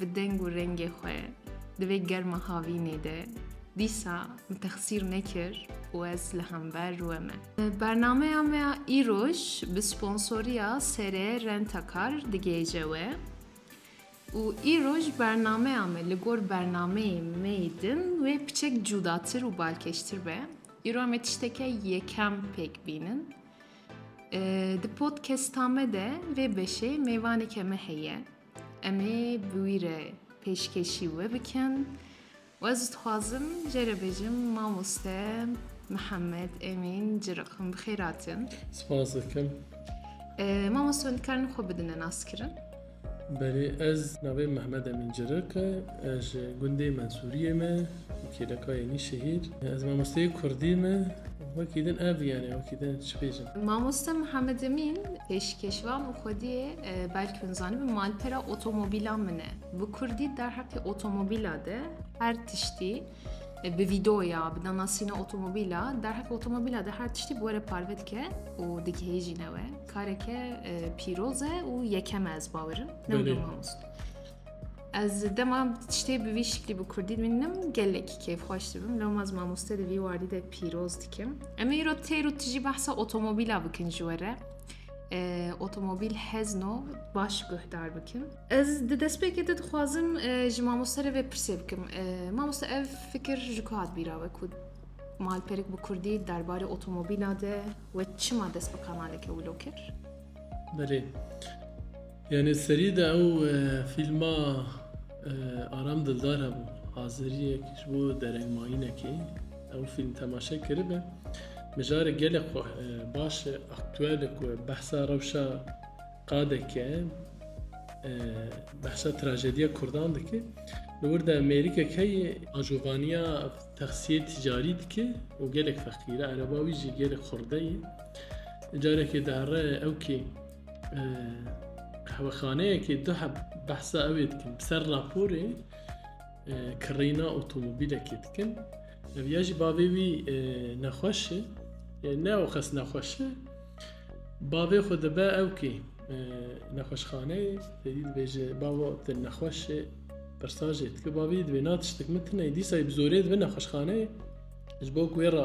Bi deng û rengê xwe di vê germa havînê de dîsa min texsîr nekir û ez li hember rûê me. Bernameya me ya îroj bi sponsoriya SRE Rentakar digihêje we û îroj bernameya me li gor bernameyê me yê din wê piçek cûdatir û balkêştir be. Îro em ê tişteke yekem pêk bînin. Di podcasta me de vê beşê mêvaneke me heye. Em ê bi wî re pêşkêşî we bikin û ez dixwazim jê re bêjim mamoste Mihemed Emîn Ciriqim bi xêr hatin. Spas dikim. Mamoste hûn dikarin xwe bidine naskirin? Belê ez navê Mihemed Emîn Ciriq e, ez ji gundê Mensûriyê me. Kêleka yenî şehîr. Ez mamosteyê kurdî me. Wekî din ev yani wekî din çi bêjim. Mamoste Mihemed Emîn pêşkêşvan û xwediyê belkî hûn zanibin malpera otomobîlan min e. Bi kurdî derheqê otomobîla de her tiştî bi vîdoya, bi danasîna otomobîla, derheqê otomobîla de her tiştî bi were parve dike û digihêjîne we. Kareke pîroz e û yekem e ez bawerim. Ne wilo mamoste. Ez dema tiştê bi vî şiklî bi Kurdî bînim gelekî keyfxweş dibim. Loma ez mamoste di vî wardî de pîroz dikim. Em ê îro têr û tijî behsa otomobîla bikin ji we re. Ee, otomobîl hezno baş guhdar bikin. Ez di destpêkê de dixwazim e, ji mamoste re vê pirsê bikim. E, Mamoste ev fikir ji ku hat bîra we ku malperik bi Kurdî derbarê otomobîla de we çima dest bi kanaleke wilo kir? Belê. Yanî serî de ew fîlma Aram Dildar hebû Azeriyek ji bo derengmayînekê ew fîlm temaşe kiribe. Mijarê gelek xwe baş e aktuel e ku behsa rewşa qadeke behsa trajediya Kurdan dike. Li wir de Amerîkek heye ajovaniya texsiyê ticarî dike û gelek feqîre ereba wî jî gelek xurdeyê. Carekê dihere ew kê Qehwexaneyekê du heb behsa ewê dikin bi ser raporê kirîna otomobîlekê dikin. Ev ya jî bavê wî nexweş e ne ew xes nexweş e. Bavê xwe dibe ew kê nexweşxaneyê têdî dibêje bava te nexweş e pirsajê dike bavê divê na tiştik min tine dîsa bi zorê dibe nexweşxaneyê ji bo ku wê re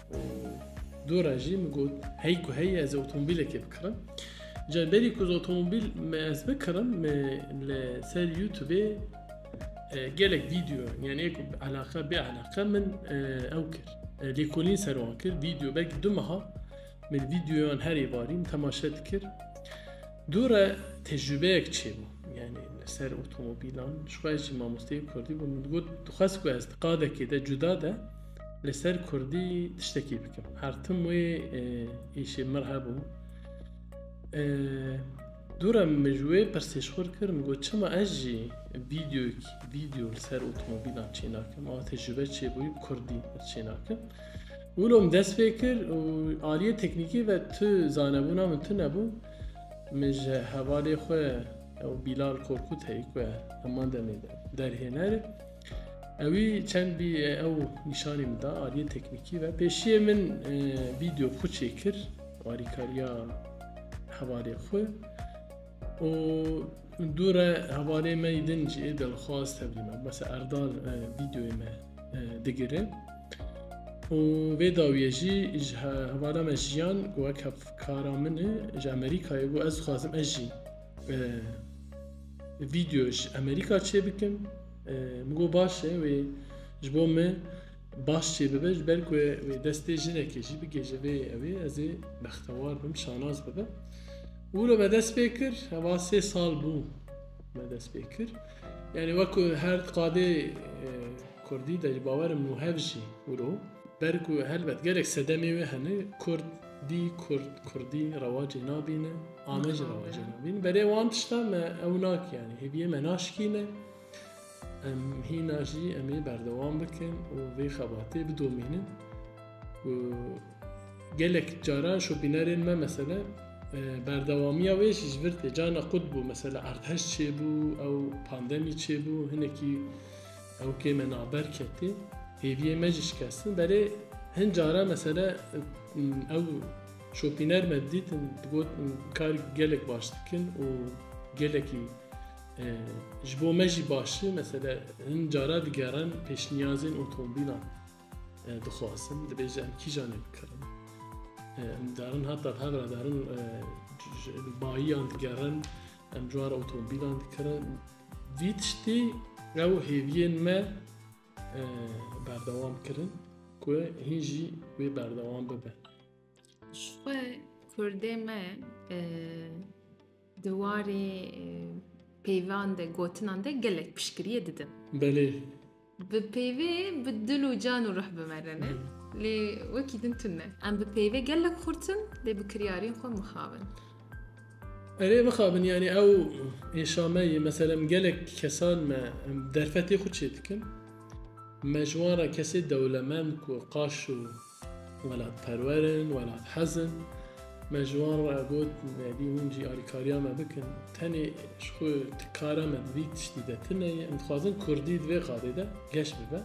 û dûra jî min got hey ku hey ez otomobîlekê bikirim ca berî ku ez otomobîl me ez bikirim me li ser youtubê e, gelek vîdeo yani êku elaka bê elaka min e, ew kir e, lêkolîn ser wan kir vîdeo belkî du meha min vîdeoyan herê varî min temaşe dikir dûre tecrübeyek çêbû yani li ser otomobîlan ji xwe jî mamosteyê kurdî bû min got dixwest ku ez di qadekê de cuda de Li ser kurdî tiştekî bikim. Her tim wê îşê mir hebû. Dûra min ji wê pirsêşxur kir min got çima ez jî vîdyoyek vîdyo li ser otomobîlan çênakim ava te ji be çêbûyî bi kurdî çênakim. Wilo min dest pê kir û aliyê teknîkî ve tu zanebûna min tu nebû min ji hevalê xwe ew Bîlal Korkut heye ku heman demê de derhêner e. Ewî çend bî ew nîşanî min da aliyê teknîkî ve. Pêşiyê min vîdeo xwe çêkir alîkariya hevalê xwe û dû re hevalê me din jî ê delxwaz tevlî me. Mese Erdal vîdeoyê me digire û vê dawiye jî ji hevala me jiyan got hevkara min e ji Amerîkayê got ez dixwazim ez jî Vîdeo ji Amerîka çê bikin min got baş e wê ji bo me baş çê bibe ji ber ku wê destê jinekê jî bigêje vê evê ez ê bextewar bim şanaz bibe û re me dest pê kir heva sê sal bû me dest pê kir yani wekku her qadê Kurdî de ji bawerim û hev jî wiro ber ku helbet gelek sedemê wê hene Kurd Dî kurd kurdî rewacê nabîne a me jî rewacê nabîne berê wan tişta me ew nake yanî hêviyê me naşikîne em hîna jî em ê berdewam bikin û vê xebatê bidomînin û gelek caran şopînerên me mesele berdewamiya wê jî ji vir tê cana qut bû mesele erdheş çêbû ew pandemî çêbû hinekî Ew kêm e naber ketê. Hêviyê me jî şikestin berê hin cara mesele ew şopîner me didîtin digot kar gelek baş dikin û gelekî ji bo me jî baş e mesele hin cara digerin pêşniyazên otomobîlan dixwazin dibêje em kîjan ê bikirin darin heta hevra darin bayiyan digerin em cara otomobîlan dikirin Vî tiştî ew hêviyên me berdewam kirin ku hîn jî wê berdewam bibe. Ji xwe Kurdê me di warê peyvan de gotinan de gelek piştgiriyê didin. Belê Bi peyvê bi dil û can û ruh bimerine lê wekî din tune. Em bi peyvê gelek xurt in lê bi kiryarên xwe mixabin. Erê mixabin yanî ew êşa me ye mesela em gelek kesan me em derfetê xwe çêdikin me ji wan re kesê dewlemend ku qaş û Welatperwer in, welathez in. Me ji wan re got nebî hûn jî alîkariya me bikin. Tenê ji xwe di kara me di vî tiştî de tune ye. Em dixwazin kurdî di vê qadê de geş bibe.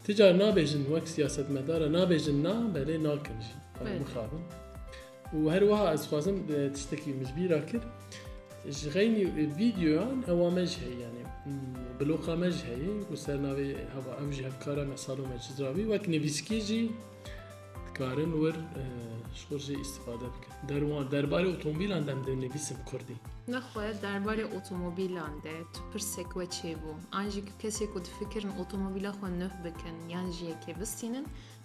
Ti car nabêjin wek siyasetmedar e, nabêjin na belê nakin jî. Em mixabin. Û her wiha ez xwazim tiştekî min ji bîr ra kir. Ji xeynî vîdeoyan ewa me jî heye yanî bloqa me jî heye ku ser navê heva ew jî hevkara me Salome Çizravî wek nivîskî jî dikarin wir ji xwe jî îstîfade bikin. Derwan derbarê otomobîlan dem dinivîsim kurdî. Nexwe derbarê otomobîlan de tu pirsek we çêbû? An jî tu kesê ku difikirin otomobîla xwe nuh bikin yan jî yekê bistînin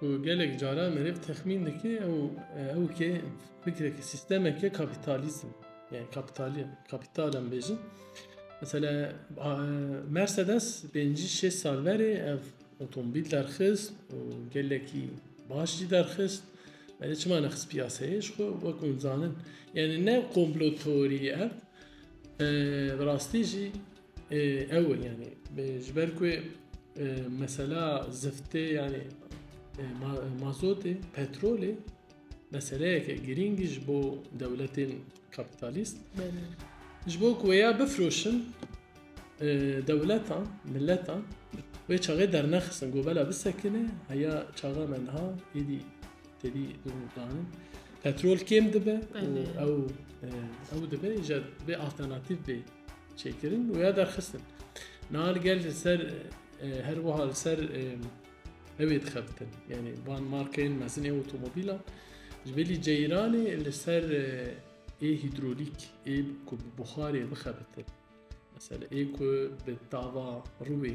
Ku gelek caran meriv texmîn dike ew ew ke fikreke sîstemeke kapîtalîsm yani kapîtalî kapîtal em bêjin. Mesela Mercedes pêncî şêst sal verê ev otomobîl derxist û gelekî baş jî derxist. Belê çima nexist piyaseyê ji xwe wek hûn zanin. Yani ne komplo teorî ye ev. Bi rastî jî Ew in yanî ji ber ku mesela ziftê yanî mazotê petrolê meseleyeke girîng ji bo dewletên kapitalîst ji bo ku ya bifroşin dewletan miletan wê çaxê dernexistin gobela bisekine heya çaxa me niha êdî Tevî danin petrol kêm dibe ew ew dibe ji bê alternatîf bê çêkirin û ya derxistin. Nal gel li ser her wiha li ser evê dixebitin. Yani van markeyên mezinê otomobîlan ji belî ceyranê li ser ê hîdrolîk ê ku bi buxarê bixebitin. Mesela ê ku bi tava rûê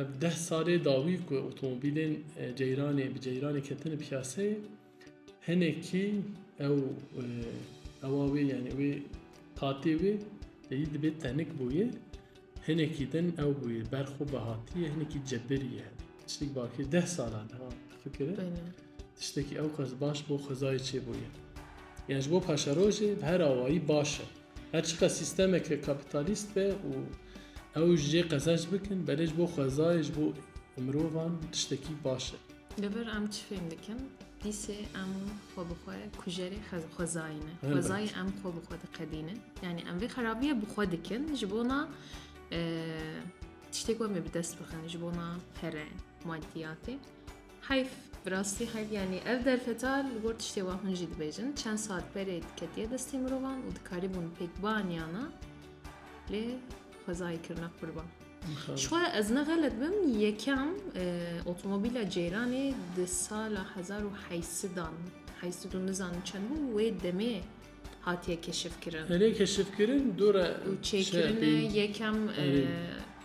Ev deh salê dawî ku otomobîlên ceyranê bi ceyranê ketine piyaseyê hinekî ew ewa wê yanî wê qatê wê yî dibê tenik bûye hinekî din ew bûye berxwe bi hatiye hinekî cebirî ye tiştek bakê deh salan fikir e Tiştekî ewqas baş bo xwezayê çêbûyî yan ji bo paşerojê bi her awayî baş e. Her çiqas sîstemeke kapîtalîst be û ew ji cê qezenç bikin belê ji bo xwezayê ji bo mirovan tiştekî baş e. Li vir em çi fêm dikin? Dîsê em xwe bi xwe kujerê xwezayê ne. Xwezayê em xwe bi xwe diqedînin. Yanî em vê xerabiyê bi xwe dikin ji bona tiştê ku em ê bi dest bixin ji bona pere, madiyatê. Heyf, bi rastî heyf yanî ev derfeta li gor tiştê wan hûn jî dibêjin çend sal berê diketiye destê mirovan û dikarîbûn pêk bianiana lê xwezayê kirina qurban. Şixwe ez ne xelet bim yekem e, otomobîla ceyranê di sala hezar û heysidan heysid û nizanim çend bû wê demê hatiye keşifkirin. Erê keşifkirin dora û çêkirine yekem e,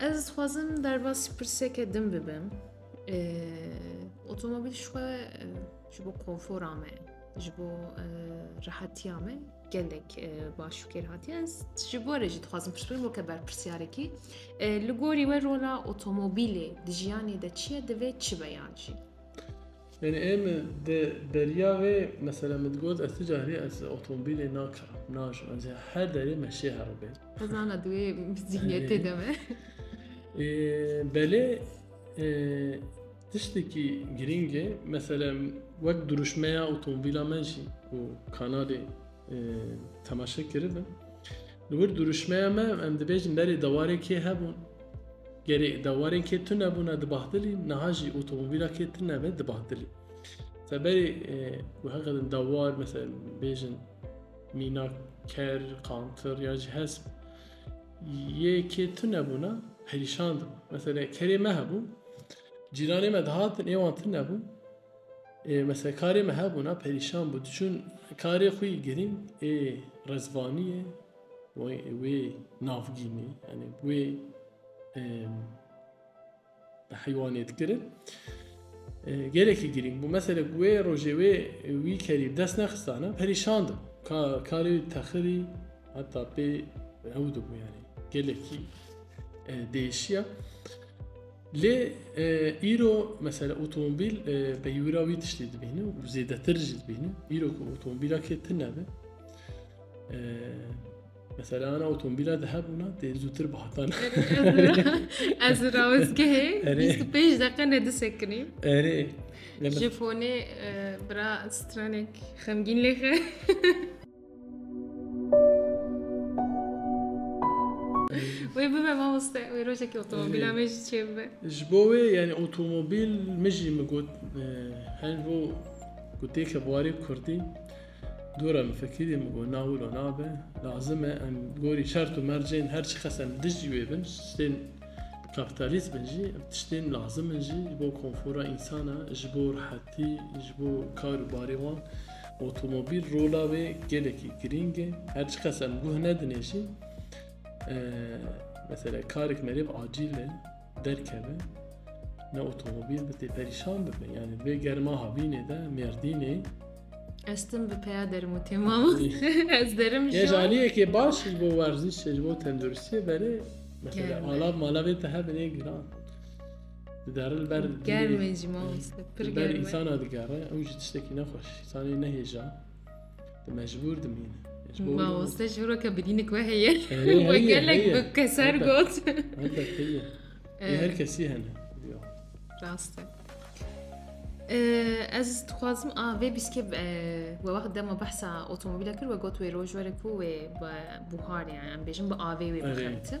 Ez dixwazim derbasî pirseke din bibim. Otomobîl ji xwe ji bo konfora me, ji bo rehetiya me gelek baş û kêr hatiye. Ez ji bo re jî dixwazim pirs bikim weke berpirsyarekî. Li gorî we rola otomobîlê di jiyanê de çi ye, divê çi be yan jî? Yanî em di beriya vê mesela min digot ez tu carî ez otomobîlê nakirim, najim ez ê her derê me şê heribê. Ez zana di wê zîhniyetê de me. Belê tiştekî girîng e mesela wek dirûşmeya otomobîla me jî ku kanalê temaşe kiribin. Li wir duruşmeya me em dibêjin berê dewarê kê hebûn. Gerê dewarên kê tu nebûne di bahdilî niha jî otomobîla kê tu nebe di bahdilî. Seberê ku e, heqedin dewar mesela bêjin mîna ker, qantir ya jî hesp yê kê tu nebûne perîşan dibû. Mesela kerê me hebû, cîranê me dihatin êwan tu nebû Ê mesela karê me hebûna perîşan bû diçûn karê xwe yê girîng ê Rezvanî ye wê navgînê yanî wê bi heywanê dikirin gelekî girîng bû mesela wê rojê wê wî kerî dest nexistana perîşan dibû karê texirî heta pê ew dibû yanî gelekî değişiya. Lê îro mesela otomobîl peywira wî tiştê dibîne û zêdetir jî dibîne. Îro ku otomobîla kê tune be. Mesela ana otomobîla di hebûna tê zûtir bi hatan. Ez rawizgehê 25 deqe ne disekinî. Erê. Ji fonê bira stranek xemgîn lêxe. Wê bibe mamoste wê rojekî otomobîla me jî çêbibe. Ji bo wê yanî otomobîl min jî min got her bo gotêke warê kurdî dora min fikirî min got nawilo nabe lazim e em gorî şert û mercên her çi qes em dij jî wê bin ştên kapitalîst bin jî ev tiştên lazim in jî ji bo konfora însan e ji bo rehetî ji bo kar û barê wan. Otomobîl rola wê gelekî girîng e. Her çi qas em guh nedinê jî mesela karek merêv acîl e derkeve ne otomobîl bi tê perîşan bibe. Yani vê germa havînê de Mêrdînê Estim bi peya derim û têma ez derim jî. Yê jaliyekê baş ji bo werzîşê ji bo tenduristiyê berê mesela alav malav ê te hebin ê giran. Digarin ber Germê jî mamoste pir ber germe. însana digere ew jî tiştekî nexweş însanê nehêja di mecbûr dimîne. Ji bo wî ne- Mamoste ji hora ke bidînik we heye. Heye, We heye, gelek heye. bi keser Elbet. got. Elbet heye. Lê her kesî hene. Ya. Rast e. Ee, Ez dixwazim a vê bîskê e, we wext dema behsa otomobîla kir we got wê roj were ku wê bi buhar yani em bêjin bi avê wê Erê. bixebitin.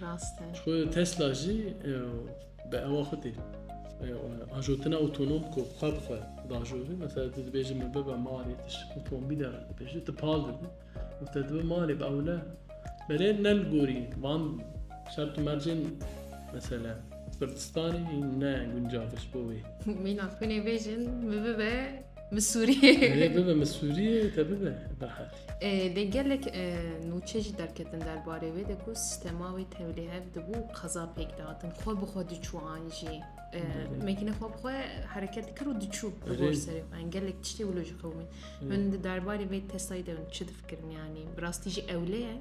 Rast e. Xwe Tesla jî bi ewa xwe tê. Ajotina otonom ku xwe bi xwe dajozê, mesela tu dibêjî min bibe malê tu ji otomobîlê re dibêjî tu pal didî û te dibe malê bi ewle. Belê ne li gorî van şert û mercên mesela Kurdistanê ne guncav e ji bo wê. Mîna xwînê bêjin min bibe min Sûriyê. Bibe min Sûriyê te bibe berhev. Dê gelek nûçe jî derketin derbarê wê de ku sistema wê tewlîhev dibû qeza pêk dihatin xwe bi xwe diçû an jî mekîne xwe bi xwe hereket dikir û diçû serê xwe gelek tiştê wilo ji qewimî min di derbarê vê testayî de çi difikirin yanî bi rastî jî ewlê ye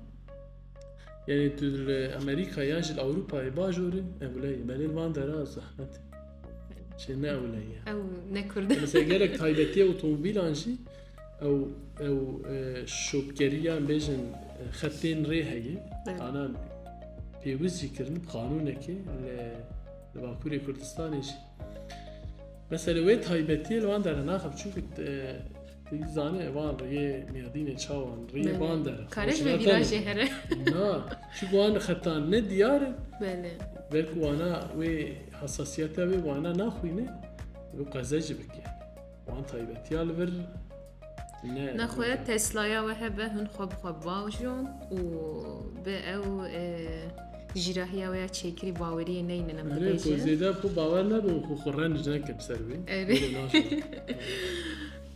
Yani tu li Amerika ya ji Ewropayê bajorê ewleyê belê van dera zehmet Şey ne ewleyê. Ew ne kurd. Mesela gerek taybetiye otomobîlan jî Ew ew şopgeriya em bêjin xetên rê heye ana pêwiz jî kirin qanûnekê li li Bakurê Kurdistanê jî. Mesela wê taybetiyê li wan dere naxe çûkit zanê van rê mêrdînê çawan rê van dere. Karek ve vîrajê here. Na çi wan xetan ne diyar in. Belê. Belku wana wê hesasiyete wê wana naxwîne wê qeze jî bike. Wan taybetiya li vir ne. Nexwe Teslaya we hebe hûn xwe bi xwe bavjon û bi ew e, jîrahiya we ya çêkirî baweriyê neynin em Erê ku dibêjin. zêde xwe bawer nebe û xwe xwe renc neke bi ser wê. Erê. Wê naşe.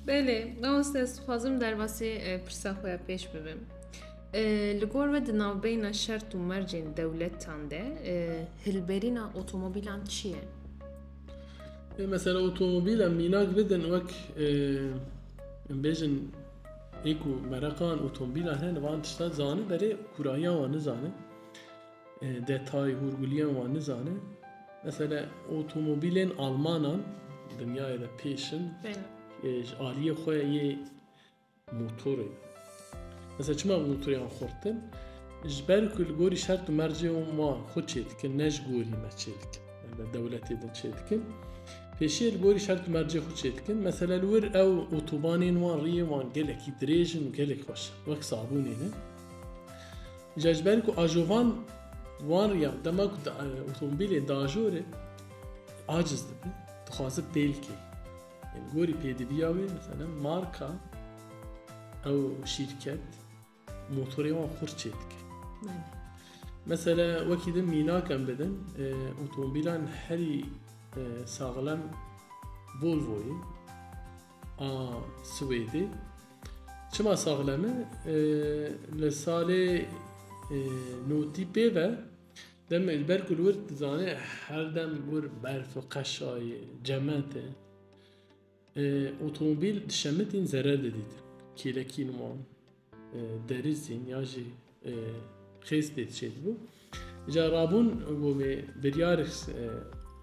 Belê, mamoste ez dixwazim derbasî e, pirsa xwe ya pêş bibim. E, Li gor we di navbeyna şert û mercên dewletan de e, hilberîna otomobîlan çi ye? Ê mesela otomobîla mînak bidin wek bêjin ê ku mereqan otomobîla hene li van tişta zanin berê kurahiyan wan nizanin. Detay hûrgulîyan wan nizanin. Mesela otomobîlên Almanan dinyayê de pêşin ji aliyê xwe yê Motorê. Mesela çima bi motorêyan xurtin? Ji ber ku li gorî şert û mercên wan xwe çêdikin ne ji gorî me çêdikin. Li dewletê de çêdikin. Pêşiyê li gorî şert û mercê xwe çêdikin. Mesela li wir ew otobanên wan riyê wan gelekî dirêj in û gelek xweş in. Wek sabûnê ne. Îja ji ber ku ajovan wan riyan dema ku otomobîlên diajorê aciz dibin. Dixwaze pêl kê. Li gorî pêdiviya wê miselem marka ew şîrket motorê wan xurt çê dike. Mesela wekî din mînak em bidin e, otomobîlan herî e, saxlem Volvoyê a Swêdê çima saxlem e, e li salê e, notî pê ve Demê li ber ku li wir dizanê her dem li wir berf e, qeşa ye, cemet e. Otomobîl di şemitîn zerer didîtin. Kêlekîn wan, derizîn ya jî xêz pê diçê dibû. Ca rabûn got me biryar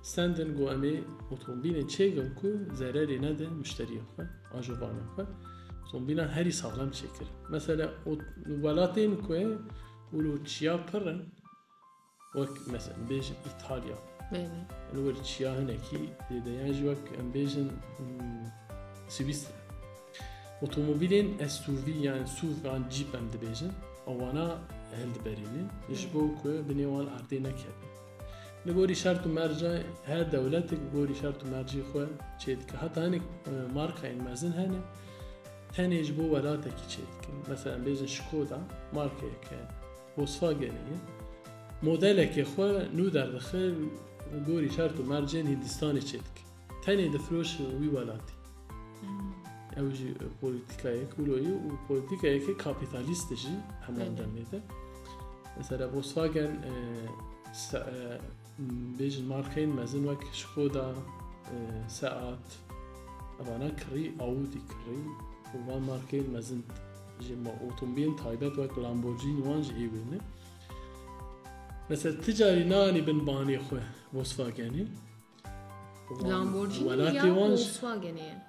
sendin got em ê otomobîlên çêkin ku zererê nedin muşteriyên xwe, ajobanên xwe. Otomobîlan herî saxlem çêkirin. Mesela welatên ku Ulu çiya pir in wek mesela em bêjin İtalya. Bêne. Ulu wir çiya hinekî dêde yan jî wek em bêjin hmm, Swiss. Otomobîlên SUV yani SUV yan Jeep em dibêjin. Awana hel diberînin. Ji bo ku binê wan erdê nekevin. Li gorî şert û merca her dewletek gorî şert û mercî xwe çêdike. Heta hinek e, markayên mezin hene Tenê ji bo welatekî çê dikin. Meselem bêjin Şkoda markeyeke Volkswagenê ye. Modelekê xwe nû derdixe li gorî şert û mercên Hîndistanê çê dike. Tenê difiroşin wî welatî. Ew jî polîtîkayek wilo ye û polîtîkayeke kapîtalîst jî heman demê de. Mesela Volkswagen Bêjin markeyên mezin wek Şkoda, Seat, evana kirî, Audi kirî û van markeyên mezin jî ma otomobilên taybet wek Lamborghini wan jî hê wê ne. Mesela ti carî nanî bin banê xwe Volkswagenê. Lamborghini ya Volkswagenê ye.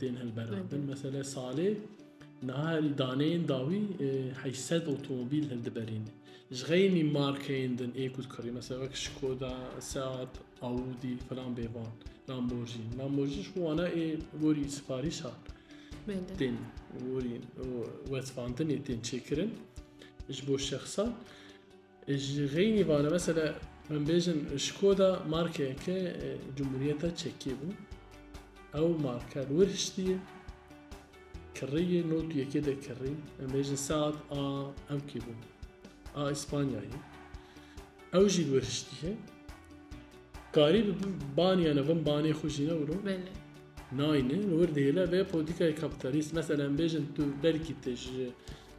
tên hilberandin. Meselê salê niha li daneyên dawî heşt sed otomobîl hildiberîn. Ji xeynî markeyên din ê ku dikirî mesela wek Skoda, Seat, Audi filan bê van Lamborghini. Lamborghini ji wana ê gorî siparîşan tên gorî wezfandinê tên çêkirin ji bo şexsan. Ji xeynî vane mesele em bêjin Şkoda markeyeke Cumhuriyeta Çekê bû. Ew marka li wir hiştî ye. Kirrî ye, not yekê de kirrî. Em bêjin Seat a ew kê bû. A İspanyayê. Ew jî li wir hiştî ye. Karî bi baniyane vin banê xwe jî newiro. Belê. Nayne, li wir dihêle vê politikayê kapitalîst. Mesele em bêjin tu belkî te ji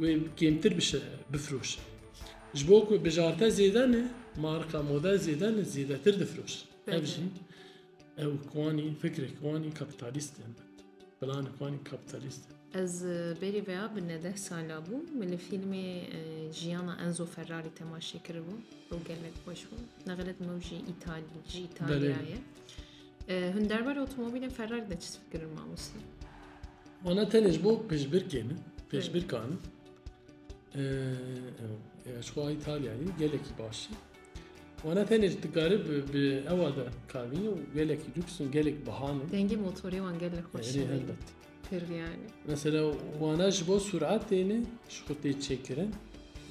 Wê kêmtir bişe, bifiroşe. Ji bo ku bijarte zêde ne, marka moda zêde ne, zêdetir difiroşe. Ev jî ew kwanî fikrek wanî kapitalîst in. Planek wanî kapitalîst in. Ez berî vêya bi nedeh sala bû min li fîlmê jiyana Enzo Ferrari temaşê kiribû. Ew gelek xweş bû. Nexilet min ew jî îtalî ji îtalyayê. Hûn derbarê otomobîlên Ferrari de çi fikir in mamoste? Wana tenê ji bo pêşbirkê min, pêşbirka min. Ji xwe Îtalyayê gelekî baş e. Wana tenê ji dikare bi ewa de karbîn û gelekî lûks û gelek bihan e. Dengê motorê wan gelek xweş e. Pir yani. Mesela wana ji bo suratê ne ji xwe tê çêkirin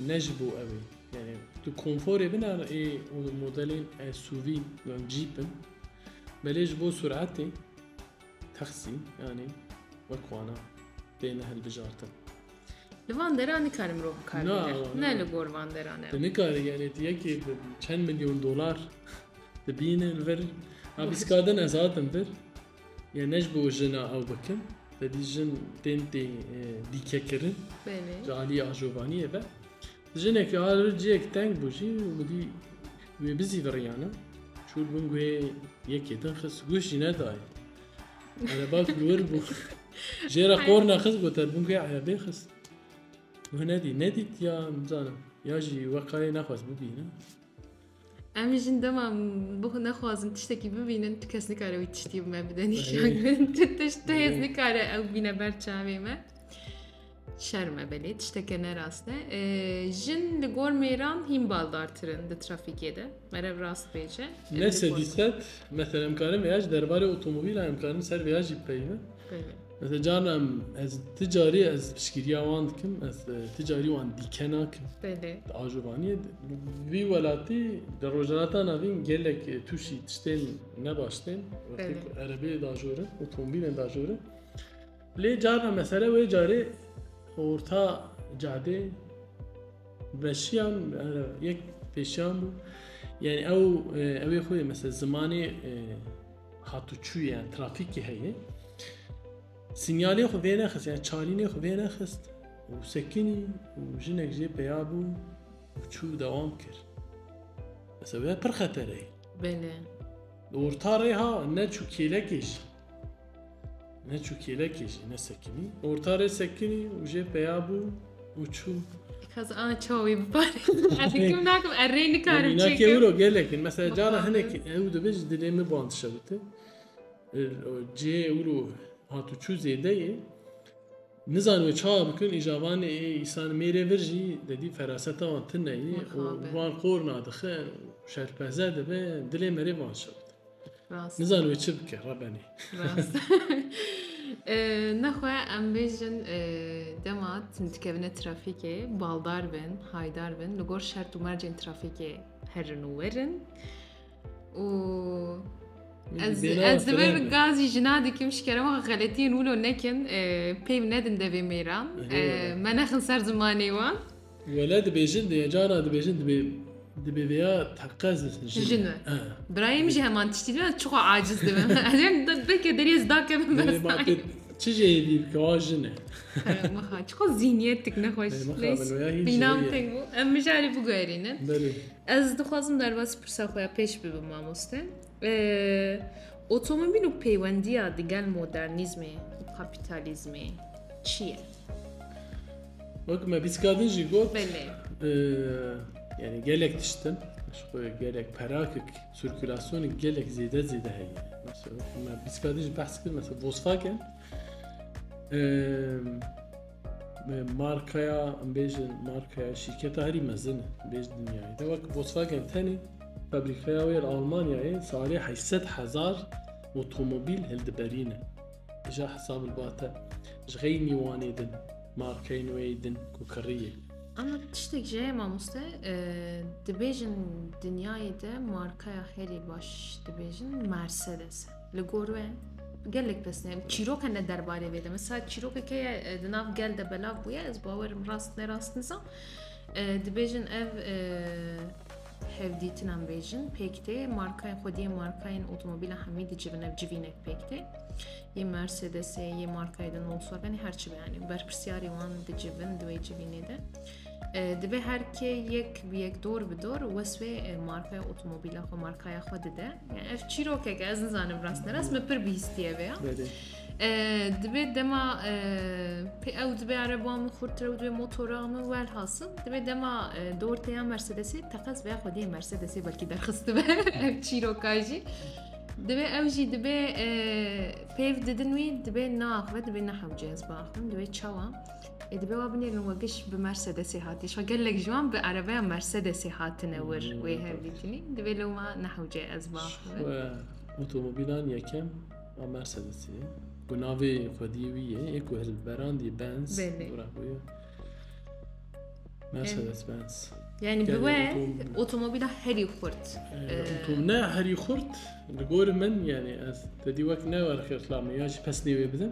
ne ji bo ew e. Yani tu konforê bin an ê modelên SUV yan Jeep in. Belê ji bo suratê taksî yani wek wana têne hilbijartin. Li van dera nikare mirov bi kar bîne. Ne li gor van deran e. Nikare yani tu yekê bi çend milyon dolar dibîne li vir. Ha bîskadin ez hatim vir. Ya ne ji bo jin a ew bikin, tedî jin tên tê dîkekirin. Belê. Ji aliyê ajobaniyê ve. Jinekî a li cihek teng bû jî û bi dî wê bizî viriyane. Çûr bin guhê yekê din xist guh jî nedaye. Erebak li wir bû. Jê re qorna xist got er bin guhê erebê xist. Guh nedî, nedît ya nizanim. Ya jî wekayê nexwest bibîne. Em jin dema bixwe nexwazin tiştekî bibînin tu kes nikare wî tiştî bi me bide nîşan tu tişt tu hêz nikare ew bîne ber çavê me şerm e belê tişteke ne rast e jin li gor mêran hîn baldartirin di trafîkê de merev rast bêje ne sedî sed mesela em karin vêya ji derbarê otomobîla em karin ser vêya jî bipeyivin Ez ê carna em ez ti carî ez piştgiriya wan dikim ez ti carî wan dîke nakim Belê. Di ajobaniyê di- vî welatî di rojhilata navîn gelek tûşî tiştên nebaş tên wextê Belê. ku erebeyê dajorin otomobîlên dajorin lê carna mesele wê carê orta cadê veşiyan ere yek pêşiyan bû yanî ew e, ew ê xwe yê mesela zimanê e, Hatûçûye trafîkê heye. Sînyalê xwe vê nexist yani çalînê xwe vê nexist û sekinî û jinek jê peya bû û çû dewam kir. Mesela pir xetere ye. Belê. Orta rê ha ne çû kêlekê jî. Ne çû kêlekê jî ne sekinî. Orta rê sekinî û jê peya bû û çû. Xaz a çawa wî biparê. Ez hikim nakim er rê nikarim çêkim. Nakê wiro gelekin. Mesela cara hinek ew dibe ji dilê min band şewite. Cê wiro hatu çû zêde ye. Nizan wê çawa bikin îjavanê ê îsan mêrê vir jî dedî feraseta wan tune ye. Wan qor nadixe şerpeze dibe dilê merê van şewite. Nizan wê çi bike rebenî. Nexwe em bêjin dema dikevine trafîkê baldar bin, haydar bin li gor şert û mercên trafîkê herin û werin û Ez divir gazî jina dikim şikerema xeletiyên wilo nekin peyv nedin devê mêran me nexin ser zimanê wan. Wele dibêjin dê cana dibêjin dibê dibê vêya teqez jin e. Birayê min jî heman tiştî dibê çixa aciz dibim. Em belkê deriyê zida kevin bes. Çi jê hêdî bike wa jin e. Mixa çixa zîniyetik nexweş. Bînam teng bû. Em mijarî biguherînin. Ez dixwazim derbasî pirsa xwe ya pêş bibim mamoste. Otomobîl û peywendiya digel modernîzmê û kapîtalîzmê çi ye? Wek me bîskadin jî got yani gelek tiştin gelek perakik sirkülasyonê gelek zêde zêde heye. Mesela me bîskadin jî behs kir mesela Volkswagen Markaya em bêjin markaya şîrketa herî mezin bêj dinyayê de wek Volkswagen tenê fabrîkaya wê li Almanyayê salê heyşsed hezar otomobîl hildiberîne. Dija hesab li ba te ji xeyî mîwanê din markeyên wê din ku kiriyê. Ama tiştek ji mamoste dibêjin dinyayê de markaya herî baş dibêjin Mercedes e. Li gor we gelek pirsînên çîroka ne derbarê vê de mesela çîrokeke ye e, di nav gel de belav bûye ez bawerim rast ne rast nizam e, dibêjin ev e, hevdîtin em bêjin pêk tê markayên xwediyê markayên otomobîla hemî dicivin ev civînek pêk tê yê mercedesê yê markayê de volkswagenê her çi beyanî berpirsiyarê wan dicivin di wê civînê de Divê her kê yek bi yek dor bi dor wesfê markaya otomobîla xwe markaya xwe dide. Yani ev çîrokeke ez nizanim rast nerast me pir bihîstiye vê ya. Divê dema pê ew divê ereban min xurtire û divê motora min wel hasil divê dema dorteya Mercedesê teqez veya xwediyê Mercedesê belkî derxistibe ev çîroka jî. Divê ew jî divê pêv didin wî divê naxve divê nehewcez baxin divê çawa. Ê dibe wa binêrin we giş bi Mercedesê hatî. Şa gelek ji wan bi erebeya Mercedesê hatine wir wê hev dîtinî. Divê li wan nehewce ez ba. Otomobîlan yekem a Mercedesê ye. Ku navê xwedî wî ye ê ku hilberandî Benz. Mercedes Benz. Yani bi we otomobîla herî xurt. Ne herî xurt li gor min yani ez te dî wek ne xirtlamê ya ji pesnê wê bidim.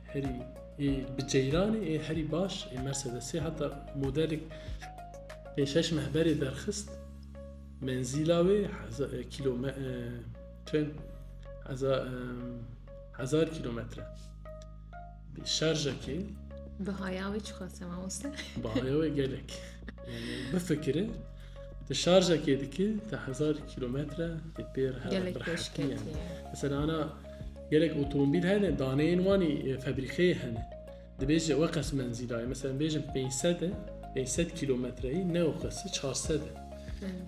Herî ê bi ceyranê ê herî baş ê Mercedesê heta modelek pê şeş mehberê derxist menzîla wê kilometre hezar kilometre şerjekê Bihaya wê çiqas e mamoste? Bihaya wê gelek. Bifikire Ti şarjekê dikî ti hezar kîlometre tê pê re hev bir hetî ye. Mesela ana gelek otomobîl hene daneyên wanî febrîkeyê hene. Dibêje we qes menzîla ye. Mesela bêjin 500 e 500 kîlometreyî ne o qes 400 e.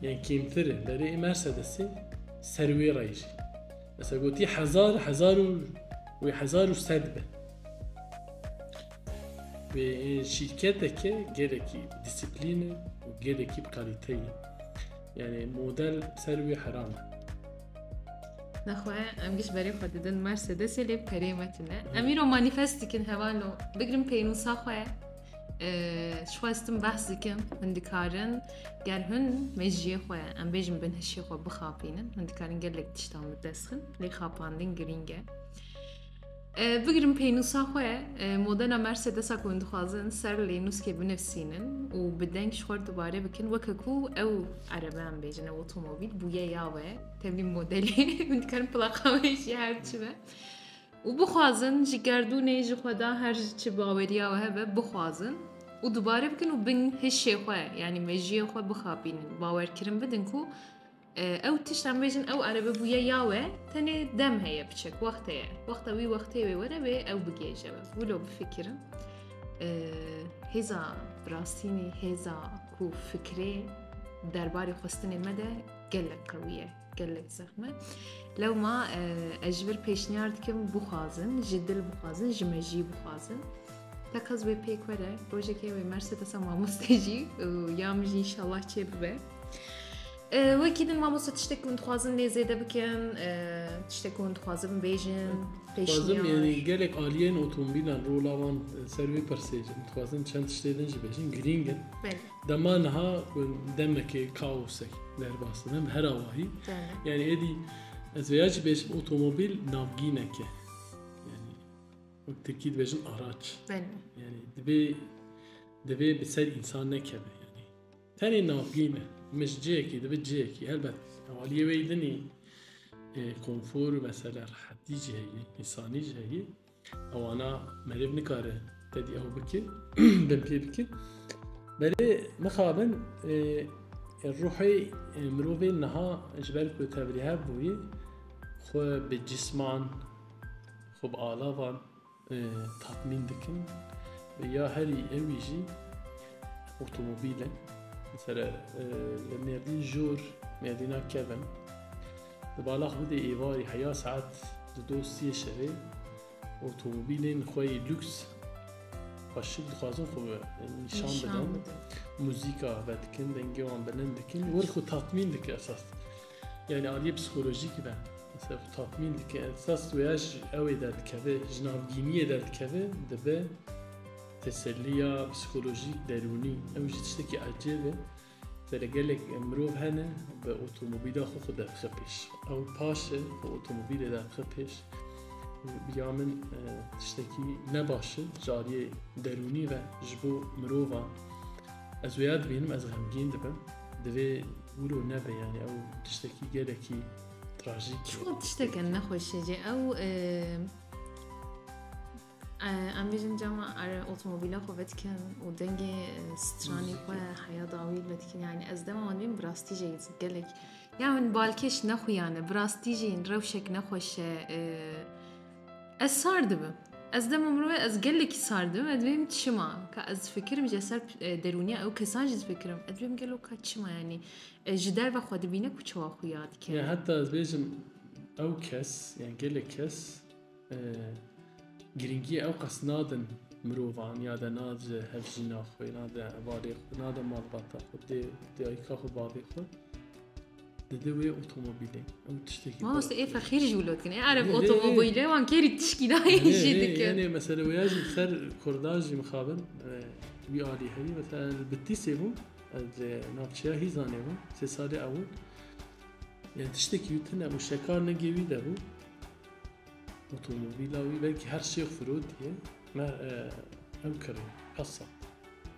Yani kîmtir e. Berê Mercedesê ser wê re jî. Mesela gotî hezar hezar û wê hezar û sed be. Şîrketeke gelekî dîsîplîne û gelekî bi kalîte ye. Yanî model ser wî heram e. Nexwe em giş berê xwe didin Mercedesê lê perê me tune. Em îro manîfest dikin hevalo bigirin pênûsa xwe ye. Ji xwe stim behs dikim hûn dikarin ger hûn mejiyê xwe em bêjin bin hişê xwe bixapînin hûn dikarin gelek tiştan bi dest xin lê xapandin girîng e. Bigirin pênûsa xwe modela Mercedesa ku hûn dixwazin ser lê nûskê binivîsînin û bi deng ji xwe re dubare bikin weke ku ew erebeyan bêjin ew otomobîl bûye ya we tevî modelê hûn dikarin plaqa wê jî her çi be û bixwazin ji gerdûnê ji xwe da her ji çi baweriya we hebe bixwazin û dubare bikin û bin hişê xwe yanî mejiyê xwe bixapînin bawerkirin bidin ku Ew tişt em bêjin ew erebe bûye ya we tenê dem heye biçek wext heye. Wexta wî wextê wê were wê ew bigêje we. Wilo bifikirin. Hêza birastînî hêza ku fikirê derbarê xwestinê me de gelek qewiye. gelek zexme. Lewma ez ji vir pêşniyar dikim bixwazin, ji dil bixwazin, ji me jî bixwazin. Tekez wê pêk were, rojekê wê merse desa mamostê jî û ya min jî inşallah çê bibe. Wekî din mamosta tiştek hûn dixwazin lê zêde bikin tiştek hûn dixwazin bêjin Xwazim yani gelek aliyên otomobîlan rola wan ser wê pirsê dixwazin çend tiştê din jî bêjin girîng in dema niha demekê kaosek derbas dibin her awahî yani êdî ez vêya jî bêjim otomobîl navgîneke yani wek tirkî dibêjin araç yani divê divê bi ser însan nekeve Tenê navgî ne, min ji cihekî dibe cihekî. Helbet hevaliyê wê din î konfor û mesela rehetî jî heye, însanî jî heye. Ewana merêv nikare tedî ew bike, bin pê bike. Belê mixabin ruhê mirovê niha ji ber ku tevlihev bûye xwe bi cisman, xwe bi alavan Tatmîn dikin ya herî ewî jî otomobîl e. Mesela li Mêrdîn jor Mêrdîna kevin di balax bidê êvarî heya saet di do siyê şevê otomobîlên xwe yê lûks xwe şik dixwazin xwe nîşan bidin. Muzîka vedikin, dengê wan bilind dikin, wir xwe tatmîn dike esas. Yani aliyê psîkolojîk ve mesela xwe tatmîn dike esas wêya ji ewê derdikeve ji navgîniyê derdikeve dibe teseliya psîkolojîk derûnî ew jî tiştekî ecêb e Mesela gelek mirov hene bi otomobîla xwe xwe derdixe pêş ew paşe xwe otomobîlê derdixe pêş ya min tiştekî ne baş e ji aliyê derûnî ve ji bo mirovan Ez wêya dibînim ez xemgîn dibim. Divê wilo nebe yani ew tiştekî gelekî trajîk. Çiwan tişteke nexweş e ew em bêjin cama ere otomobîla xwe vedikin û dengê stranî xwe heya dawî vedikin yani ez dema wan bîm birastî jê gelek ya min balkêş nexuyane birastî jîn rewşek nexweş e Ez sar dibim. Ez dema mirovê ez gelekî sar dibim ez dibêjim çima ka ez difikirim ji ser e, derûniya ew kesan jî difikirim ez dibêjim gelo ka çima yanî e, ji derve xwe dibîne ku çawa xwe ya dike Ya heta ez bêjim ew kes yani gelek kes e, girîngiyê ew qas nadin mirovan ya de nade hevjîna xwe nade hevalê xwe nade malbata xwe dê dayika xwe bavê xwe Dede wê otomobîlê. Ew tiştekî. Ma wastê ê fexîr jî wilo dikin. Ê ereb otomobîlê wan kêrî tişkî dayê jî dikin. Yanê mesela wêya jî ser Kurda jî mixabin wî alî herî mesela li Bitîsê bû ez li navçeya Hîzanê bûm sê salê ew yani tiştekî wî tune û şekar negê wî de bû otomobîla wî belkî her şêx firot diye me ew kirî hesa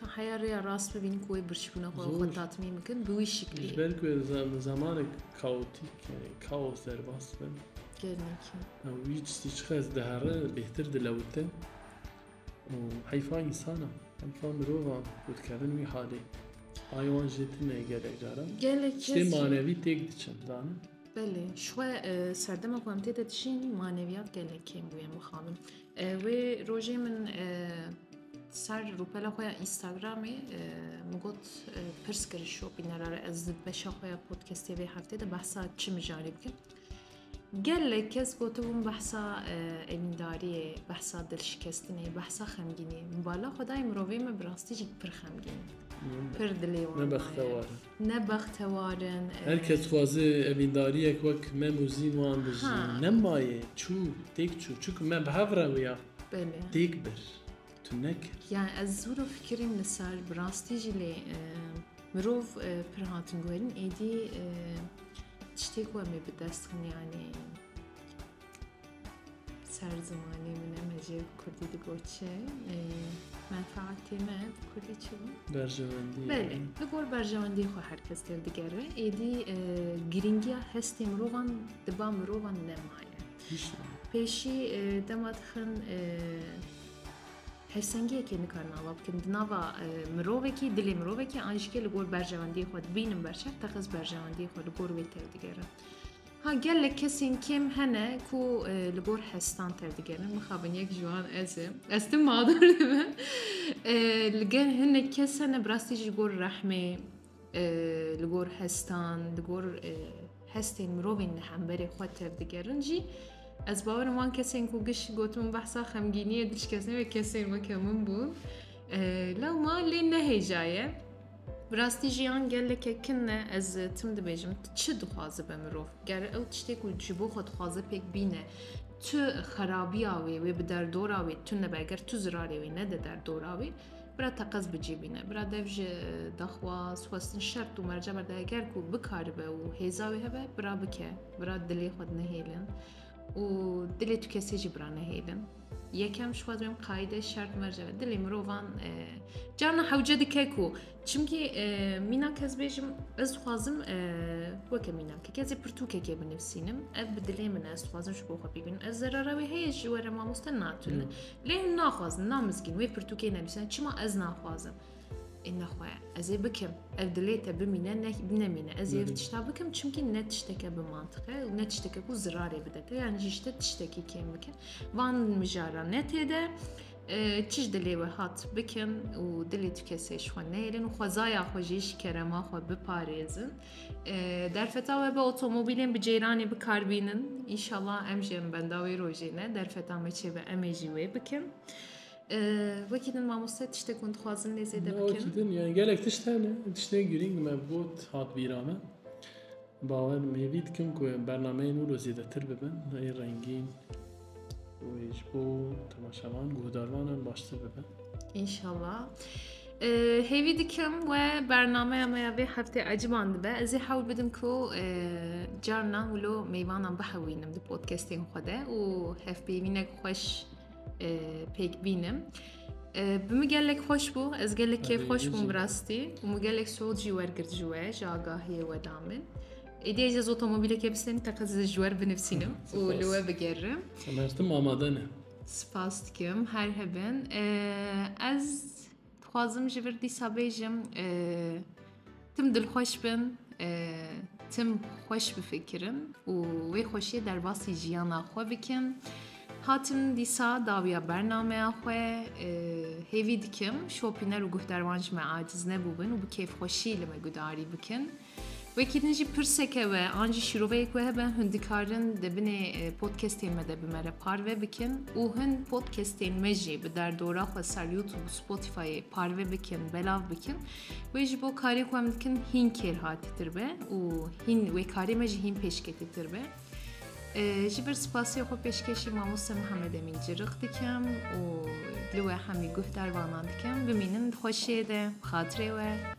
Ka heya rêya rast bibînin ku wê birçîbûna xwe xwe tatmîn bikin bi wî şiklê. Ji ber ku zamanek kaotîk yani kaos derbas bin. Gelmekî. Wî çi çiqas dihere bêhtir dilewite. û heyfa însana heyfa mirovan ku dikevin wî halê. Ay wan jê tune gelek caran. Gelek Ştê manevî têk diçin zanîn. Belê, ji xwe serdema ku em tê de dijîn maneviyat gelek kêm bûye mixabin. Wê rojê min ser rûpela xwe ya Instagramê min got pirs kir şo bînera re ez di beşa xwe ya podcastê vê heftê de behsa çi mijarê bikim. Gelek kes gotibûn behsa elîndariyê, behsa dilşikestinê, behsa xemgînê. Min bala xwedayê mirovê me bi rastî jî pir xemgîn. Pir dilê wan. Ne bextewar in. Her kes dixwaze evîndariyek wek me Muzîn wan bi jî nemaye. Çû, têk çû. Çunku me bi hev re wiya têk bir. Tu nekir. Yani ez zûro fikirîm li ser bi rastî jî lê mirov pir hatin guherîn êdî tiştêk wemê bi dest xin yani. Ser zimanê min e me jê bi Kurdî digoçin. Menfaatê me bi Kurdî çi bû? Berjewendî. Belê, li gor berjewendî xwe her kes tev digere. Êdî e, girîngiya hestê mirovan di ba mirovan nemaye. Pêşî e, dema dixin e, hersengiyekê nikarin ava bikin. Di nava e, mirovekî, dilê mirovekî an jî ke li gor berjewendiyê xwe dibînin berçav, teqez berjewendiyê xwe li gor wê tev digere. Ha gelek kesên kêm hene ku li gor hestan tevdigerin. Mixabin yek ji wan ez im. Ez tim mağdur dibim. Li gel hinek kes hene bi rastî ji gor rehmê li gor hestan, li gor hestên mirovên li hemberê xwe tevdigerin jî ez bawerim wan kesên ku giş gotin behsa xemgîniyê diçkesne wê kesên weke min bûn. Lewma lê nehêjaye. Bi rastî jiyan geleke kin e ez tim dibêjim tu çi dixwaze be mirov ger ew tiştê ku ji bo xwe dixwaze pêk bîne tu xerabiya wê wê bi derdora wê tu nebe ger tu zirarê wê nede derdora wê bira teqez bicî bîne bira dev ji daxwaz xwestin şert û merca berde ger ku bikaribe û hêza wê hebe bira bike bira dilê xwe nehêlin û dilê tu kesê jî bira nehêlin Yekem ji xwe dibên qayîdê şert merce be. Dilê mirovan e, carna hewce dike ku çimkî e, mîna kes bêjim ez dixwazim e, weke mîna ke kesê pirtûkekê binivîsînim ev bi dilê min e, ez dixwazim ji bo xwe bîbînim ez zerara wê heye ji were mamoste natune lê hûn naxwazin namizgîn wê pirtûkê nenivîsîne çima ez naxwazim Ê nexwe ez ê bikim. Ev dilê te bimîne ne nemîne. Ez ê ev tişta bikim çimkî ne tişteke bi mantiqe û ne tişteke ku zirarê bide te yanî ji te tiştekî kêm bikin. Van mijara ne tê de çiş dilê we hat bikin û dilê tu kesê ji xwe neyrin û xwezaya xwe jî ji kerema xwe biparêzin. Derfeta we bi otomobîlên bi ceyranê bikarbînin. Înşallah em jî em benda wê rojê ne derfeta me çêbe em ê jî wê bikin. Wekî din mamoste tiştê ku hûn dixwazin lê zêde bikin. Wekî din yani gelek tişt hene. Tiştê girîng me got hat bîra me. Bawer me vî dikim ku bernameyên wilo zêdetir bibin. Rê rengîn wê ji bo temaşevan guhdarvanan baştir bibin. İnşallah. Hêvî dikim we bernameya me ya vê heftê eciban dibe. Ez ê hewl bidim ku carna wilo meyvanan bihewînim di podcastên xwe de û hevpeyvînek xweş pêk bînim. Bi min gelek xweş bû, ez gelek kêf xweş bûm bi rastî û min gelek soz jî wergirt ji we ji agahiyê we da min. Êdî ez ez otomobilekê bisenim teqe ez ji wer binivîsim û li we bigerim. Mertim amade ne. Spas dikim her hebin. Ez Dixwazim ji vir dîsa bêjim tim dilxweş bin, tim xweş bifikirin û wê xweşiyê derbasî jiyana xwe bikin. Hatim dîsa dawiya bernameya xwe hêvî dikim şopîner û guhdarwan ji me aciz nebûbin û bi kêfxweşî li me gudarî bikin. Wekî din jî pirseke we an jî şîroveyek we hebe hûn dikarin di binê e, podcastên me de bi me re parve bikin û hûn podcastên me jî bi derdora xwe ser YouTube û Spotifyê parve bikin, belav bikin. Wê ji bo karê ku em dikin hîn kêrhatîtir be û hîn wê karê me jî hîn pêşketîtir be. E, Ji ber spasê xwe pêşkêşî mamoste Mihemed Emîn Cirix dikim û li we hemî guh dervanan dikim. Bimînin di xweşiyê de, bi xatirê we.